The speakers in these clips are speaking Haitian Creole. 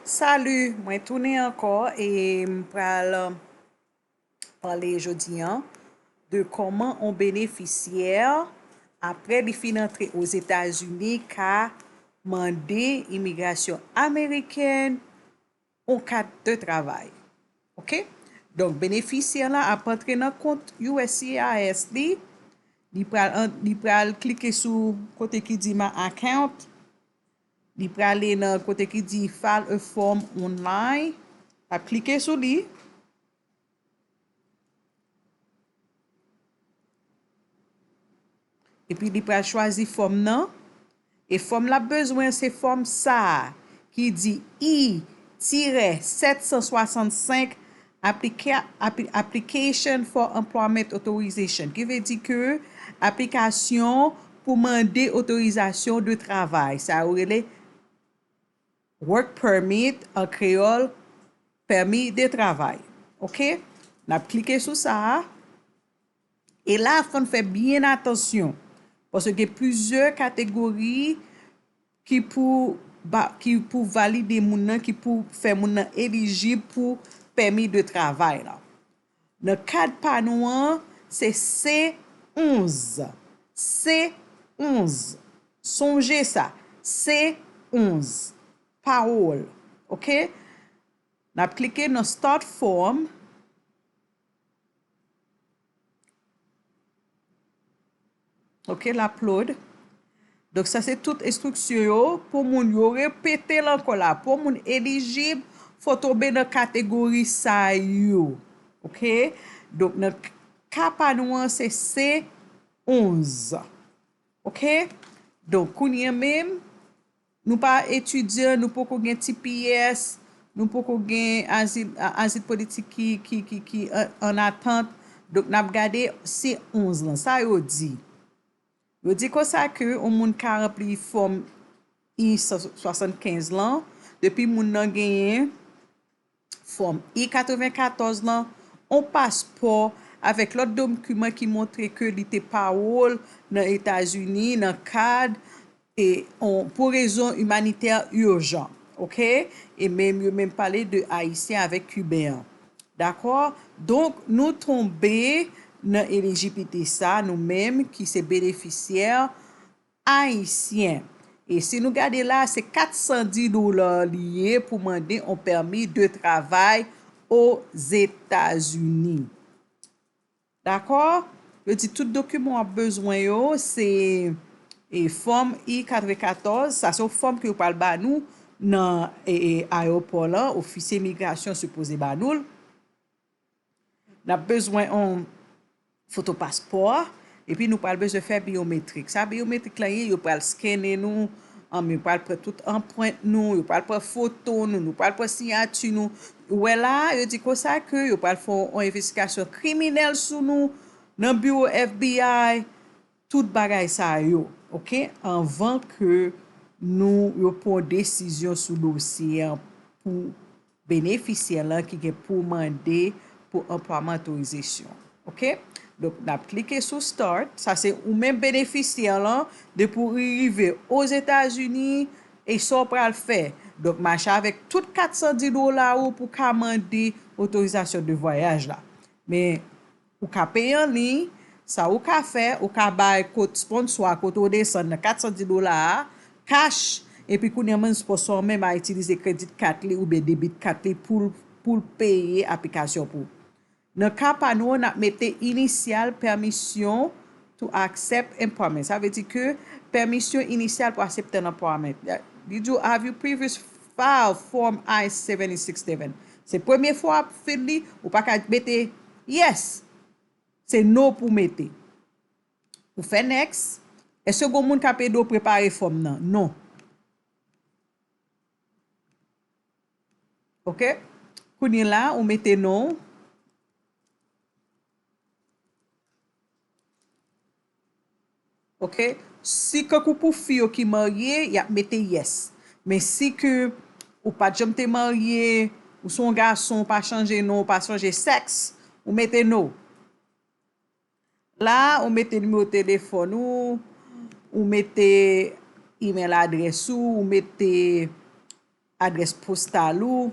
Salut mwen tounen ankò e m pral pale jodi an de kòman on benefisyè apre li fin antre Ozetazini ka mande imigrasyon amerikèn on kat de travay ok donk benefisyè lan ap antre nan kont uscis li li pral li pral klike sou kote ki di my account li prale nan kote ki di file a form online lap klike sou li Epi li pral chwazi fòm nan. E fòm lap bezwen an se fòm sa a ki di i tirè 765 Application for Employment Authorization ki vle di ke aplikasyon pou mande otorizasyon de travay sa yo rele. Work permit, an kreyòl, pèmi de travay. Ok. N ap klike sou sa a. E la a fò n fè byen atansyon. Paske gen plizyè kategori ki pou ba, ki pou valide moun nan, ki pou fè moun nan elijib pou pèmi de travay lan. Nan kad pa nou an, se se 11. Se 11. Sonje sa. Se 11. Pawòl. Ok? N ap klike nan Start Form. Ok l ap load. Donk sa se tout estriksyon yo pou moun yo repete l ankò la pou moun elijib fò tonbe nan kategori sa yo ok donk nan ka pa nou an se C 11 ok donk kounye menm. Nou pa etidyan, nou poko gen tps, nou poko gen azil politik ki an atant, donk n ap gade C11 lan. Sa yo di? Yo di konsa ke yon moun ka ranpli fòm I-175 lan, depi moun nan genyen Fòm I-94 lan, on paspò avèk lòt dokiman ki montre ke li te pawol nan Etazini nan kad e on pou rezon imanitè urjan. Ok? E menm yo menm pale de Ayisyen avèk Kiben an. Dakò? Donk nou tonbe nan elijiblite sa nou menm ki se benefisyè Ayisyen. E si nou gade la a se 410 dola li ye pou mande on pèmi de travay Ozetazini. Dakò? Yo di tout dokiman w ap bezwen yo se e fòm I-94, sa se yon fòm ke yo pral ba nou nan e ayewopò lan, ofisye migrasyon sipoze ba nou l. N ap bezwen yon foto paspò a, epi nou pral bezwen fè byometrik. Sa byometrik la ye, yo pral skennen nou, anm, yo pral pran tout anprent nou, yo pral pran foto nou, nou pral pran siyati nou. Ou wè la a, yo di konsa ke yo pral fè yon envestigasyon kriminèl sou nou nan biwo FBI Tout bagay sa yo ok anvan ke nou yo pwan desizyon sou dosye an pou benefisyè lan ki gen pou mande pou anplwaman otorizasyon ok donk nap klike sou start sa se ou menm benefisyè lan depi ou rive ozetazini e sa ou pral fè donk mache avèk tout 410 dola ou pou ka mande otorizasyon de vwayaj la men. Ou ka peye an liy, sa ou ka fè, ou ka bay kot sponsò a kote ou desann nan 410 dola a, cash, epi kounye an menm sponsò an menm a itilize kredit kat li oubyen debit kat li poul poul peye aplikasyon pou. Nan ka pa nou an nap mete inisyal pèmisyon To accept employment, sa vle di ke pèmisyon inisyal pou asepte yon employment. Li di w Have you previous filed Form I-76 Devan. Se premye fwa w ap fill li, ou pa ka mete Yes! Se No pou w mete. Ou fè Next. Eske gen yon moun k ap ede w prepare fòm nan? Non. Ok. Kounyela ou mete non w. Ok si kankou pou fi yo ki marye yap mete yes men si ke ou pat janm te marye ou son gason ou pa chanje non ou pa chanje sex ou mete no la ou mete nimewo telefòn ou ou mete email adrès ou ou mete adrès postal ou.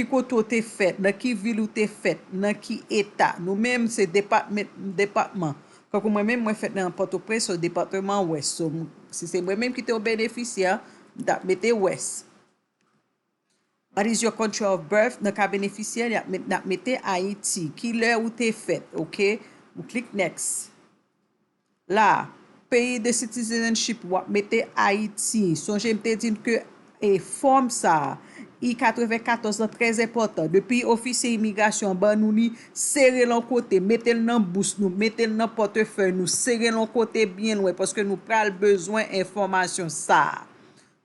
Ki kote ou te fèt? Nan ki vil ou te fèt? Nan ki eta? Nou menm se department, depatman. Tankou mwen menm, mwen fèt nan Pòtoprens, so depateman Wès. So, si se mwen menm ki te yon benefisyè, m t ap mete Wès. What is your country of birth? Nan ka benefisyè, y ap met, n ap mete Ayiti. Ki lè ou te fèt? Ok. M klik next. La a. Peyi de citizenship wap mete Ayiti. Sonje m te di n ke e fòm sa a, I-94 lan trè enpòtan. Depi ofisye imigrasyon an ban nou li, sere l an kote, mete l nan bous nou, mete l nan pòtefèy nou, sere l an kote byen lwen paske nou pral bezwen enfòmasyon sa a.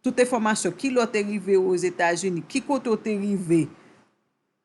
Tout enfòmasyon, ki lè w te rive Ozetazini, ki kote w te rive.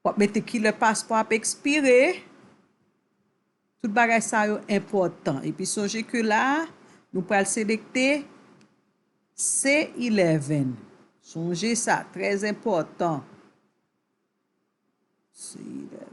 Wap mete kilè paspò ap ekspire. Tout bagay sa yo enpòtan. Epi sonje ke la a, nou pral selekte C11. Sonje sa, trèz enpòtan. C11.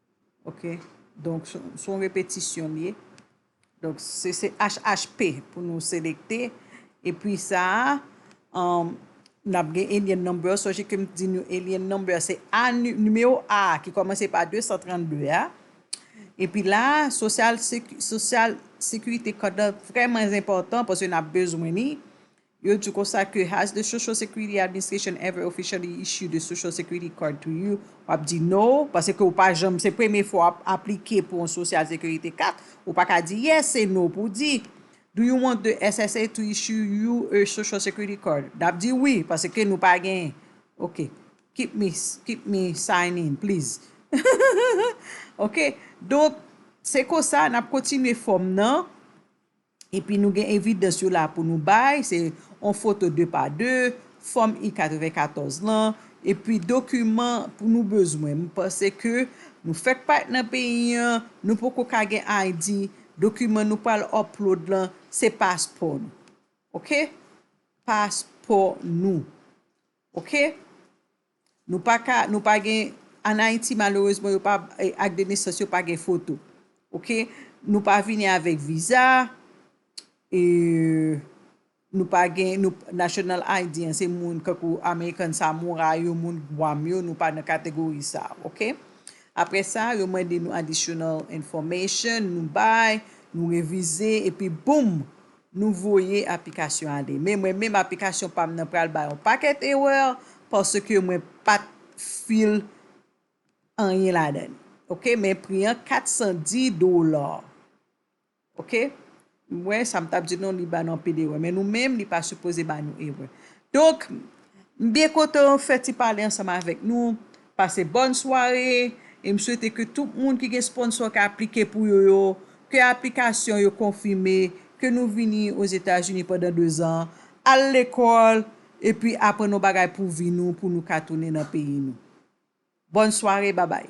Ok donk son repetisyon liye donk se se HHP pou nou selekte epi sa a nap gen alien number sonje kem t di nou alien number se a nimewo a ki komanse pa 232 a epi la sosyal sosyal sekirite kòd la vreman enpòtan paske nap bezwen li Yo di konsa ke has the social security administration ever officially issued a social security card to you? Wap di no, pase ke ou pa janm, se premye fwa wap aplike pou yon social security kat, ou pa ka di yes, se no pou w di. Do you want the SSA to issue you a social security card? Nap di wi, pase ke nou pa gen. Ok. Keep me, keep me sign in, please. Ok. Donk, se konsa nap kontinye fòm nan. Epi nou gen evidans yo la pou nou bay, se yon foto 2 pa 2, fòm I-94 lan, epi dokiman pou nou bezwen. M panse ke nou fèk parèt nan peyi an, nou poko ka gen ID, dokiman nou pral upload lan, se paspò nou. Ok? Paspò nou. Ok? Nou pa ka nou pa gen an ayiti malerezman yo pa ak de nesans yo pa gen foto ok nou pa vini avèk viza eeuh nou pa gen nou national ID an se moun kankou American samurai yo moun gwam yo nou pa nan kategori sa ok aprè sa yo mande nou additional information nou bay nou revize epi boom Nou voye aplikasyon ale. Men mwen menm aplikasyon pam nan pral bay yon pakèt erreur paske mwen pat fil anyen ladann ok men pri an 410 dollars ok m wè sam tap di non li banou anpil erreur men nou menm li pa sipoze banou erreur Donk, m byen kontan fè ti pale ansanm avèk nou. Pase bòn sware e m swete ke tout moun ki gen sponsò k aplike pou yo yo, ke aplikasyon yo konfime, ke nou vini Ozetazini pandan dezan, al lekòl epi aprann yon bagay pou vi nou pou nou ka tounen nan peyi nou. Bòn sware, babay!